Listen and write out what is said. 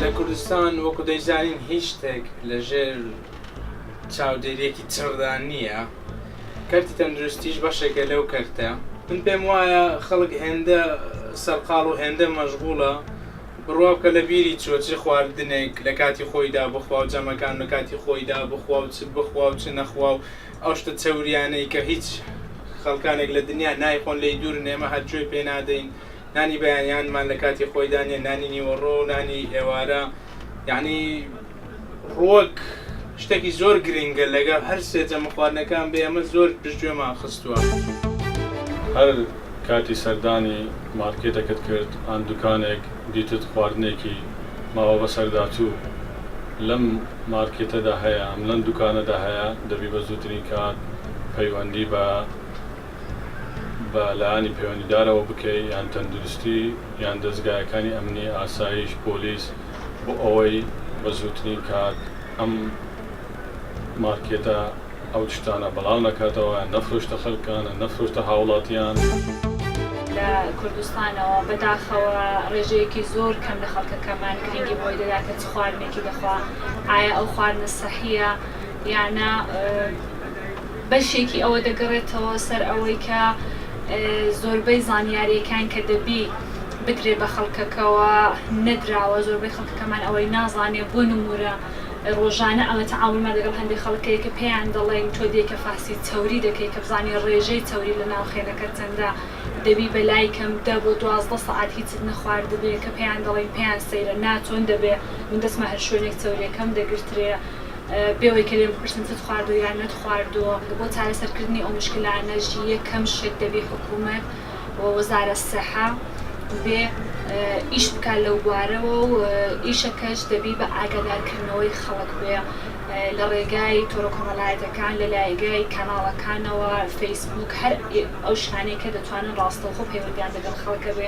لە کوردستان وەکو دەیزانین هیچ شتێک لە ژێر چاودێریەکی چڕدا نییە کەرتی تەندروستیش بەشێکە لەو کەرتە من پێم وایە خەڵک هێندە سەرقاڵ و هێندە مەشغوڵە بڕوا بکە لە بیری چووە چ خواردنێک لە کاتی خۆیدا بخوا و جەمەکان لە کاتی خۆیدا بخوا و چ بخوا و چ نەخوا و ئەو شتە چەورییانەی کە هیچ خەڵکانێک لە دنیا نایخۆن لێی دوورن ئێمە هەر گوێ پێ نادەین نانی بەیانیانمان لە کاتی خۆیدا نییە نانی نیوەڕۆ و نانی ئێوارە یەعنی ڕووەک شتەکی زۆر گرنگە لەگەڵ هەر سێ جەمە خواردنەکان بێ ئەمە زۆر پشت گوێمان خستووە. هەر کاتی سەردانی مارکێتەکەت کرد ئان دوکانێک دیتت خواردنێکی ماوە بەسەرداچوو لەم مارکێتەدا هەیە ئەم لەم دوکانەدا هەیە دەبی بە زووترین کات پەیوەندی بە بە لایەنی پەیوەندیدارەوە بکەی یان تەندروستی یان دەزگایەکانی ئەمنی ئاسایش پۆلیس بۆ ئەوەی بە زووترین کات ئەم مارکێتە ئەو شتانە بەڵاو نەکاتەوە، نەفرۆشتە خەلکانە، نەفرۆشتە هاوڵاتیان. لە کوردستانەوە بە داخەوە ڕێژەیەکی زۆر کەم لە خەڵکەکەمان گرینگی بەوەی دەدات کە چ خواردنێکی دەخوا، ئایا ئەو خواردنە سەحییە یان نا، بەشێکی ئەوە دەگەڕێتەوە سەر ئەوەی کە زۆربەی زانیارییەکان کە دەبی، بدرێ بە خەڵکەکەوە نەدراوە زۆربەی خەڵکەکەمان ئەوەی نازانێ بۆ نمورە ڕۆژانە ئەمە تەعامولمان لەگەڵ هەندێ خەڵک هەیە کە پێیان دەڵێین تۆ دێیکە فەحسی چەوری دەکەی کە بزانی ڕێژەی چەوری لە ناو خێلەکەت چەندە دەبی بە لای کەم دە بۆ دوازدە سەعات هیچت نەخواردبێ کە پێیان دەڵێین پێیان سەیرە نا چۆن دەبێ من دەچمە هەر شوێنێک چەوریەکەم دەگرترێ بێوەی کە لێم بپرسن چت خواردوە یان نەتخواردوە بۆ چارەسەرکردنی ئەو مشکلانەش یەکەم شت دەبی حکومەت و وەزارەت سەحە دبێ ئیش بکات لەو بوارەوە و ئیشەکەش دەبی بە ئاگادارکردنەوەی خەڵک بێ لە ڕێگای تۆرە کۆمەڵایەتەکان لە لایگای کاناڵەکانەوە فەیسبوک هەر ئەو شتانەی کە دەتوانن ڕاستەوخۆ پەیوەندیان دەگەڵ خەڵکە بێ.